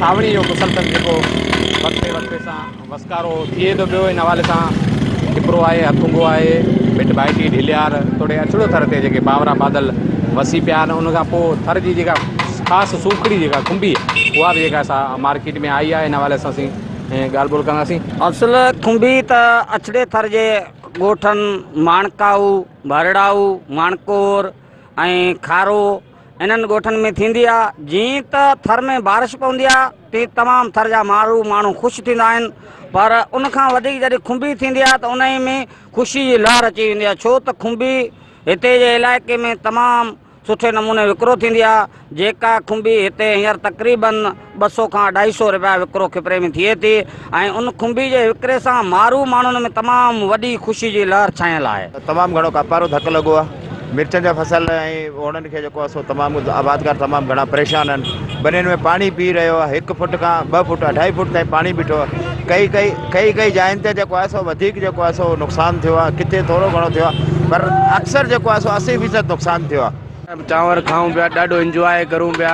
سانوڻي جو مسلسل جيڪو وقفي وقفي سان وسڪارو ٿئي ٿو پيو ان حوالي سان ٽپرو آهي هٿونگو آهي مٽ ڀائٽي ڍليار توڙي اڇڙو ٿر تي جيڪي باورا بادل وسي پيا آهن ان کان پوء ٿر جي جيڪا خاص سوکڙي جيڪا کنڀي اها به جيڪا سا مارڪيٽ ۾ آئي آهي ان حوالي سان اسين ڳالهه ٻولهه ڪنداسين اصل کنڀي ته اڇڙي ٿر جي ڳوٺن ماڻڪائو ڀرڙائو ماڻڪور ۽ کارو انهن ڳوٺن ۾ ٿيندي آ جيئن ته ٿر ۾ بارش پوندي آ تيئن تمام ٿر جا مارو ماڻهو خوش ٿيندا آهن پر ان کان وڌيڪ جڏهن کنڀي ٿيندي آ ته انهي ۾ خوشي جي لهر اچي ويندي آ ڇو ته کنڀي هتي جي علائقي ۾ تمام سٺي نموني وڪرو ٿيندي آ جيڪا کنڀي هتي هينئر تقريبن ٻه سؤ کان اڍائي سؤ رپيا وڪرو کپري ۾ ٿئي ٿي ۽ ان کنڀي جي وڪري سان مارو ماڻهن ۾ تمام وڏي خوشي جي لهر ڇانيل آهي. تمام گهڻو ڪاپار جو ڌڪ لڳو آهي، مرچن جا فصل ۽ اوڻن کي جيڪو آهي سو تمام آبادگار تمام گهڻا پريشان آهن، ٻنين ۾ پاڻي پي رهيو آهي، هڪ فوٽ کان ٻه فوٽ اڍائي فوٽ تائين پاڻي بيٺو آهي، ڪئي ڪئي ڪئي ڪئي جاين تي جيڪو آهي سو وڌيڪ جيڪو آهي سو نقصان ٿيو آهي، ڪٿي ٿورو گهڻو ٿيو آهي پر اڪثر جيڪو آهي سو اسي فيصد نقصان ٿيو آهي. چانور کائون پيا ڏاڍو انجواء ڪرون پيا.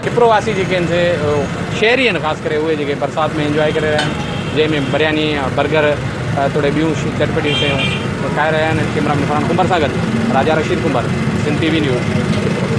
ڇپرو واسي جيڪي آهن سي شهري آهن خاص ڪري اهي جيڪي برسات ۾ انجواء ڪري رهيا آهن جنهن ۾ برياني برگر توڙي ٻيون چٽپٽيون شيون کائي رهيا آهن ڪيمرا مين فرحان ڪنڀر سان گڏ Raja Rashid Kumbhar Sindh T V news ڇپرو.